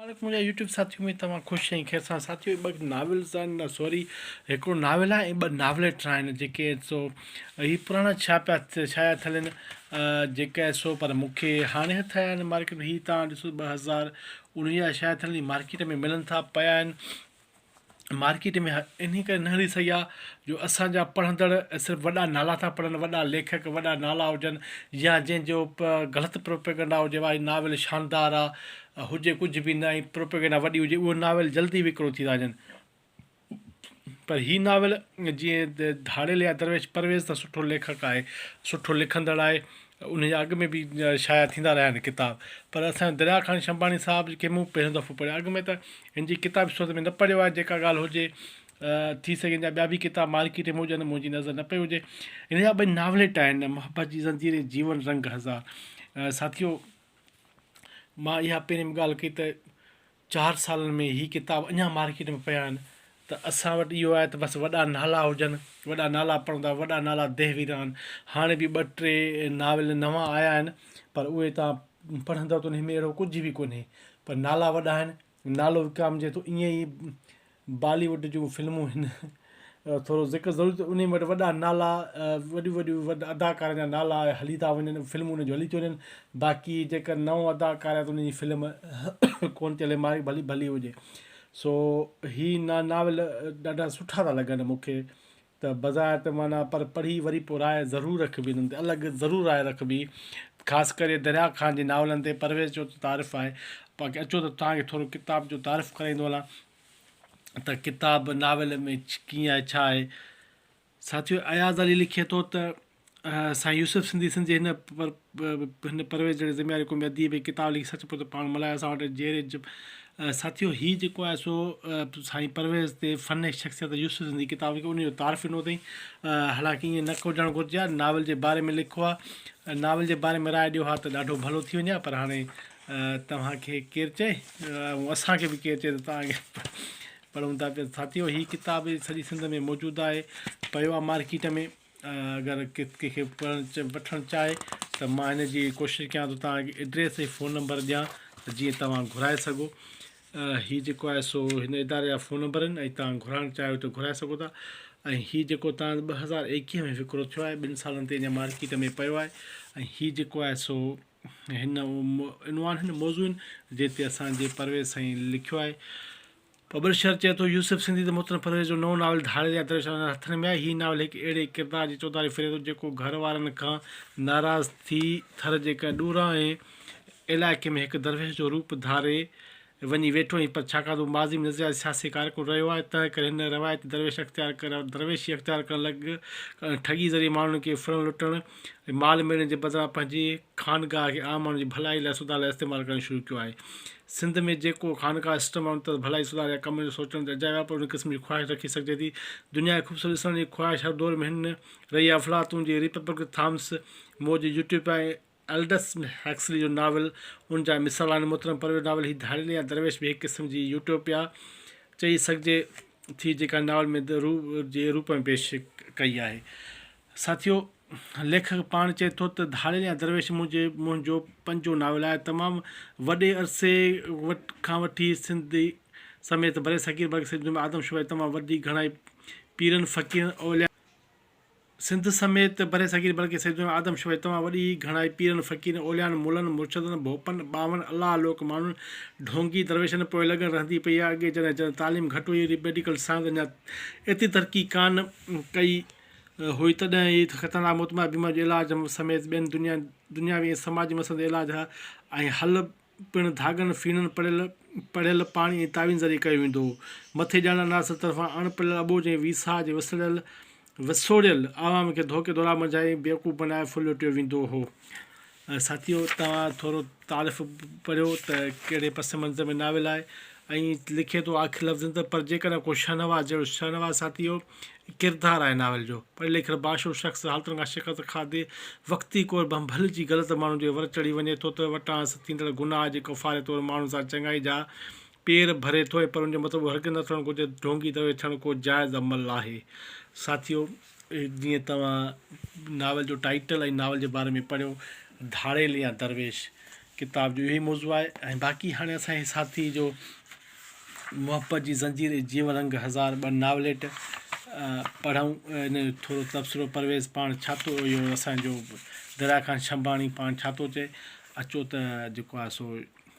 مبارڪ منهنجا يوٽيوب ساٿيو ۾ توهان خوش ۽ خير سان ساٿيو هي ٻه ناولز آهن سوري هڪڙو ناول آهي ۽ ٻه ناوليٽرا آهن جيڪي سو هي پراڻا ڇا پيا ڇايا ٿلين جيڪا سو پر مون کي هاڻي هٿ آيا آهن مارڪيٽ ۾ هي تان ڏسو ٻه هزار انويهه جا شايد ٿلين مارڪيٽ ۾ ملن ٿا پيا آهن مارڪيٽ ۾ انهي ڪري نه هلي سگهيا جو اسان جا پڙهندڙ صرف وڏا نالا ٿا پڙهن وڏا ليکڪ وڏا نالا هجن يا جنهن جو غلط پروپيگنڊا هجي وا هي ناول شاندار آهي هجي ڪجهه به نه ۽ پروپيگنڊا وڏي هجي اهي ناول جلدي وڪرو ٿي ٿا وڃن پر هي ناول جيئن ڌاڙيل يا درويش پرويز ته سٺو ليکڪ آهي سٺو لکندڙ آهي انهن جا اڳ ۾ به شايع ٿيندا رهيا آهن ڪتاب پر اسان جو دريا خان شنباڻي صاحب کي مون پهريون دفعو پڙهيو اڳ ۾ ته هن جي ڪتاب جي صورت ۾ نه پڙهيو آهي جيڪا ڳالهه هجي ٿي سگهي هن جا ٻيا به ڪتاب مارڪيٽ ۾ هجن منهنجي نظر نه پئي هجي هن جا ٻئي ناوليٽ آهن محبت جي زنجير ۽ جيون رنگ هزار ساٿيو مان اها پهرين به ڳالهه ڪئي ته چار سالن ۾ هي ڪتاب اڃا مارڪيٽ ۾ پيا آهن ته اسان وٽ اهو آهي ته بس وڏا نالا هجن، وڏا نالا پڙهندا، وڏا نالا دهويران. هاڻي به ٻه ٽي ناول نوان آيا آهن پر اهي توهان پڙهندؤ ته انهن ۾ اهڙو ڪجهه به ڪونهي پر نالا وڏا آهن، نالو وڪامجي ٿو ائين ئي بالي ووڊ جون فلمون هن ٿورو ذڪر ضرور ٿيو انهي وٽ وڏا نالا وڏيون وڏيون وڏ اداڪارن جا نالا هلي ٿا وڃن فلمون انهن جون هلي ٿيون وڃن باقي جيڪر نئون اداڪار آهي ته انهي جي فلم ڪون ٿي هلي مارڪ ڀلي ڀلي هجي سو هي نا ناول ڏاڍا سٺا ٿا لڳن مون کي ته بظاهر ته معنيٰ پر پڙهي وري پوء راء ضرور رکبي انهن تي الڳ ضرور راء رکبي خاص ڪري دريا خان جي ناولن تي پرويز چيو ته تعارف آهي باقي اچو ته توهان کي ٿورو ڪتاب جو تعارف ڪرائيندو هلان ته ڪتاب ناول ۾ ڪيئن آهي ڇا آهي ساٿيو اياز علي لکي ٿو ته. سائين يوسف سنڌي سنڌ جي هن پرويز جهڙي ذميواري قومي اديب ۽ ڪتاب لکي سچ پچ پاڻ ملهايو اسان وٽ جهيري جب ساٿيو هي جيڪو آهي سو سائين پرويز تي فن ۽ شخصيت يوسف سنڌي ڪتاب لکي ان جو تعارف ڏنو اٿئي حالانڪه ائين نه ڪجڻ گهرجي ها ناول جي باري ۾ لکو ها ناول جي باري ۾ راء ڏيو ها ته ڏاڍو ڀلو ٿي وڃي ها پر هاڻي توهان کي ڪير چئي ۽ اسان کي به ڪير چئي ته توهان پڙهون ٿا پيا ساٿيو هي ڪتاب سڄي سنڌ ۾ موجود آهي پيو آهي مارڪيٽ ۾ اگر ڪنهن کي وٺڻ چاهي ته مان هن جي ڪوشش ڪيان ٿو توهان کي ايڊريس ۽ فون نمبر ڏيان ته جيئن توهان گهرائي سگهو هي جيڪو آهي سو هن اداري جا فون نمبر آهن ۽ توهان گهرائڻ چاهيو ته گهرائي سگهو ٿا ۽ هي جيڪو توهان جو ٻه هزار ايڪيهه ۾ وڪرو ٿيو آهي ٻن سالن تي اڃا مارڪيٽ ۾ پيو آهي ۽ هي جيڪو آهي سو هن عنوان هن موضوعن جنهن تي اسانجي پرويز سائين لکيو آهي پبلشر چئي ٿو يوسف سنڌي ته محترم پرويز جو نئون ناول ڌاڙيل يا دريشان هن هٿن ۾ آهي. هي ناول هڪ اهڙي ڪردار جي چوڌاري ڦري ٿو جيڪو گهر وارن کان ناراض ٿي ٿر جي ڪنهن ڏورانهين علائقي ۾ هڪ درويش جو روپ ڌاري وڃي ويٺو آهي پر ڇاڪاڻ ته هو ماضي ۾ نظرياتي سياسي ڪارڪن رهيو آهي تنهن ڪري هن روايتي درويش اختيار درويشي اختيار ڪرڻ لڳ ٺڳي ذريعي ماڻهن کي ڦرڻ لٽڻ ۽ مال ميڙڻ جي بدران پنهنجي خانقاهه کي عام ماڻهن جي ڀلائي لاء سڌار لاء استعمال ڪرڻ شروع ڪيو آهي. سنڌ ۾ جيڪو خانقاهه سسٽم آهي ان تحت ڀلائي سڌار يا ڪم جو سوچڻ ته اجايو آهي پر ان قسم جي خواهش رکي سگهجي ٿي. دنيا کي خوبصورت ڏسڻ جي خواهش هر دور ۾ هن رهي آهي افلاطون جي ريپبلڪ ٿامس مور جي يوٽوپيا ۽ الڊس هيڪسلي جو ناول ان جا مثال آهن. محترم پرويز ناول هي ڌاڙيل يا درويش به هڪ قسم جي يوٽوپيا چئي سگهجي ٿي جيڪا ناول ۾ The Room جي روپ ۾ پيش ڪئي آهي. ساٿيو! ليکڪ پاڻ چئي ٿو ته ڌاڙيل يا درويش منهنجي منهنجو پنجون ناول آهي. تمام وڏي عرصي کان وٺي سنڌ سميت برصغير بلڪه سڄي دنيا ۾ آدم شمار جي تمام وڏي گهڻائي پيرن، فقيرن، اوليائن، سنڌ سميت برصغير بلڪه سڄي دنيا ۾ آدم شمار جي تمام وڏي گهڻائي پيرن، فقيرن، اوليائن، ملن، مرشدن، ڀوپن، ٻانهن، الله لوڪ ماڻهن، ڍونگي، درويشن پوء لڳڻ رهندي پئي آهي. اڳي جڏهن جڏهن تعليم گهٽ هئي، ري ميڊيڪل سائنس اڃا ايتري ترقي ڪانه ڪئي، هئي تڏهن هي خطرناڪ متمائي بيماري جو علاج سميت ٻين دنياوي ۽ سماجي مسئلن تي علاج ۽ حل پڻ ڌاڳن، ڦيڻن، پڙهيل پڙهيل پاڻي ۽ تعويذن ذريعي ڪيو ويندو هو. مٿي ڄاڻايل عناصر طرفان اڻ پڙهيل اٻوجهه ۽ ويساهه جي وسڙيل وسوڙيل عوام کي ڌوڪي ڌوڙائي منجهائي بيوقوف بنائي ڦرلٽيو ويندو هو. ساٿيو توهان ٿورو تعارف پڙهيو ته ڪهڙي پس منظر ۾ ناول آهي ۽ لکي ٿو آخري لفظن ته پر جيڪڏهن ڪو شهنواز جهڙو شهنواز ساٿيو ڪردار آهي ناول جو پڙهي لکيل باشعور شخص حالتن کان شڪست کاڌي وقتي ڪور ڀنڀل جي غلط ماڻهن جي ور چڙهي وڃي ٿو ته وٽانئس ٿيندڙ گناهه جي ڪفاري طور ماڻهن سان چڱائي جا پير ڀري ٿو ۽ پر ان جو مطلب اهو هرگز نه ٿيڻ گهرجي ته ڍونگي درويش ٿيڻ ڪو جائز عمل آهي ساٿيو جيئن توهان ناول جو ٽائيٽل ۽ ناول جي باري ۾ پڙهيو، ڌاڙيل يا درويش ڪتاب جو اهو ئي موضوع آهي ۽ باقي هاڻي اسان جي ساٿي جو محبت جي زنجير ۽ جيون رنگ هزار ٻه ناوليٽ پڙهون ان جو ٿورو تبصرو پرويز پاڻ ڇا ٿو اهو اسان جو دريا خان شنباڻي پاڻ ڇا ٿو چئي اچو ته جيڪو آهي سو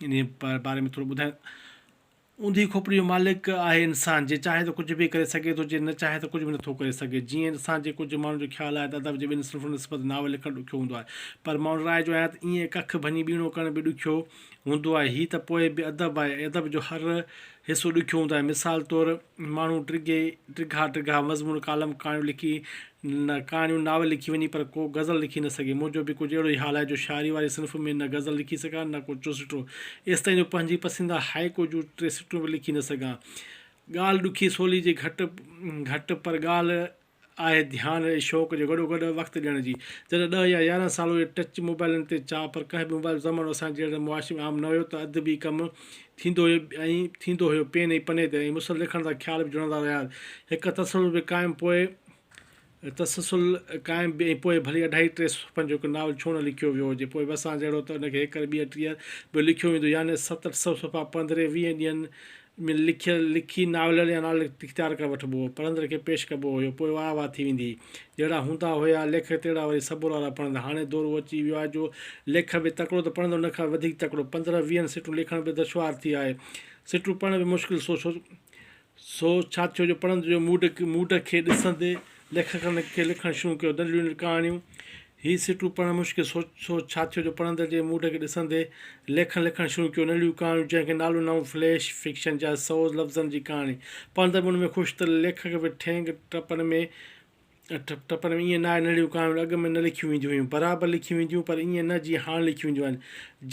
ان باري ۾ ٿورو ٻڌايو اونڌي کوپڙي جو مالڪ آهي انسان، جي چاهي ته ڪجهه به ڪري سگهي ٿو، جي نه چاهي ته ڪجهه به نٿو ڪري سگهي. جيئن اسان جي ڪجهه ماڻهن جو خيال آهي ته ادب جي ٻن صنفن نسبت ناول لکڻ ڏکيو هوندو آهي. پر مان ان راء جو آهيان ته ايئن هڪ اک ڀڃي ٻيڻو ڪرڻ به ڏکيو هوندو آهي. هي ته پوء به ادب آهي ۽ ادب جو هر حصو ڏکيو هوندو آهي. مثال طور. ماڻهو ڊگهي ڊگها ڊگها مضمون، ڪالم، ڪهاڻيون لکي نه ڪهاڻيون ناول لکي وڃي پر ڪو غزل لکي نه سگهي. منهنجو به ڪجهه اهڙو ئي حال آهي جو شاعري واري صنف ۾ نه غزل لکي سگهان نه ڪو چوسٽو. ايستائين جو پنهنجي پسنديده هائيڪو جون ٽي سٽون به لکي نه سگهان. ڳالهه ڏکي سولي جي گهٽ گهٽ پر ڳالهه آهي ڌيان ۽ شوق جو گڏو گڏ وقت ڏيڻ جي جڏهن ڏهه يا يارهن سال اهي ٽچ موبائلن تي چا پر ڪنهن به موبائل زمانو اسان جهڙن معاشري ۾ عام نه هيو ته ادبي ڪم ٿيندو هيو ۽ ٿيندو هيو پين ۽ پني تي ۽ مسل لکڻ جا خيال به جڙندا رهيا هڪ تسلسل به قائم پوء تسلسل قائم به ۽ پوء ڀلي اڍائي ٽي صفحن جو هڪ ناول ڇو نه لکيو ويو هجي پوء به اسان جهڙو ته ان کي هيڪر ٻيهر ٽيهر به لکيو ويندو يعني ست اٺ سؤ صفحا پنڌري ويهن ڏينهن ۾ لکيل لکي ناولن يا ناول اختيار ڪري وٺبو هو. پڙهندڙ کي پيش ڪبو هيو. پوء واهه واهه ٿي ويندي هئي. جهڙا هوندا هيا ليکڪ تهڙا وري صبر وارا پڙهندا. هاڻي دور اهو اچي ويو آهي جو ليکڪ به تڪڙو ته پڙهندڙ ان کان به وڌيڪ تڪڙو. پندرهن ويهن سٽون لکڻ به دشوار ٿي آهي. سٽون پڙهڻ به مشڪل سو سو ڇا ٿيو جو پڙهندڙ جو موڊ موڊ کي ڏسندي. ليکڪن کي لکڻ شروع ڪيو، دليون ۽ ڪهاڻيون. هي سٽون پڙهڻ مشڪل سو سوچ ڇا ٿيو جو پڙهندڙ جي موڊ کي ڏسندي ليکڪن لکڻ شروع ڪيو، نليون ڪهاڻيون جنهن کي نالو نئون فليش فڪشن جا سوز لفظن جي ڪهاڻي. پڙهندڙ به ان ۾ خوش ته ليکڪ به ٺينگ ٽپن ۾ ٽپن ۾ ائين ناهي نليون ڪهاڻيون اڳ ۾ نه لکيون وينديون هيون برابر لکيون وينديون پر ائين نه جيئن هاڻ لکيون وينديون آهن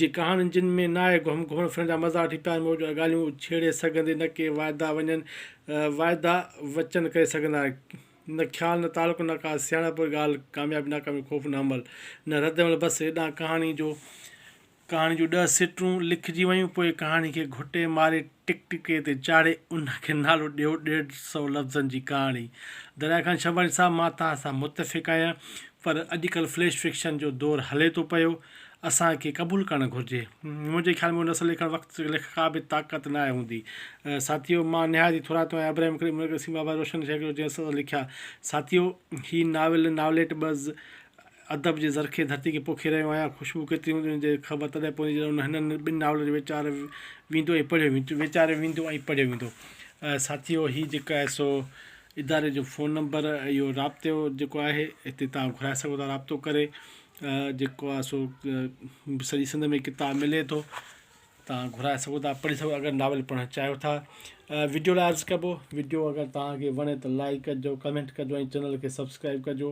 جي ڪهاڻين جن ۾ ناهي گهمڻ ڦرڻ جا مزاح ٺي پيار محبت جون ڳالهيون ڇيڙي سگهندي نه ڪي واعدا وڃن واعدا وچن ڪري سگهندا نه خيال نه تعلق نه ڪا سياڻپ ڳالهه ڪاميابي ناڪامي خوف نه عمل نه رد عمل بس هيڏانهن ڪهاڻي جو ڪهاڻي جون ڏهه سٽون لکجي ويون پوء ڪهاڻي کي گهٽي ماري ٽڪ ٽڪي تي چاڙهي ان کي نالو ڏيو ڏيڍ سئو لفظن جي ڪهاڻي دريا خان شنواري صاحب مان توهان سان متفق آهيان پر اڄڪلهه فليش فڪشن جو دور هلي ٿو پيو اسان کي قبول ڪرڻ گهرجي. منهنجي خيال ۾ ان اصل لکڻ وقت لک ڪا به طاقت نه آهي هوندي. ساٿيو! مان نهايت ئي ٿورائتو آهيان ابراهيم ڪريم مرڪزي سين بابا روشن شيخ جو جنهن اسان سان لکيا. ساٿيو! هي ناول ناوليٽ بز ادب جي زرخيز ڌرتي کي پوکي رهيو آهيان. خوشبو ڪيتري هوندي ان جي خبر تڏهن پوندي جڏهن ان هنن ٻن ناولن کي ويچار ويندو ۽ پڙهيو ويندو ويچاريو ويندو ۽ پڙهيو ويندو. ساٿيو! هي جيڪو آهي سو اداري جو فون نمبر اهو رابطو جيڪو آهي هتي توهان گهرائي سگهو ٿا رابطو ڪري جيڪو آهي سو سڄي سنڌ ۾ ڪتاب ملي ٿو تان گهرائي سگهو ٿا پڙهي سگهو اگر ناول پڙهڻ چاهيو ٿا وڊيو لاء عرض ڪبو وڊيو اگر توهان کي وڻي ته لائڪ ڪجو ڪمينٽ ڪجو ۽ چينل کي سبسڪرائب ڪجو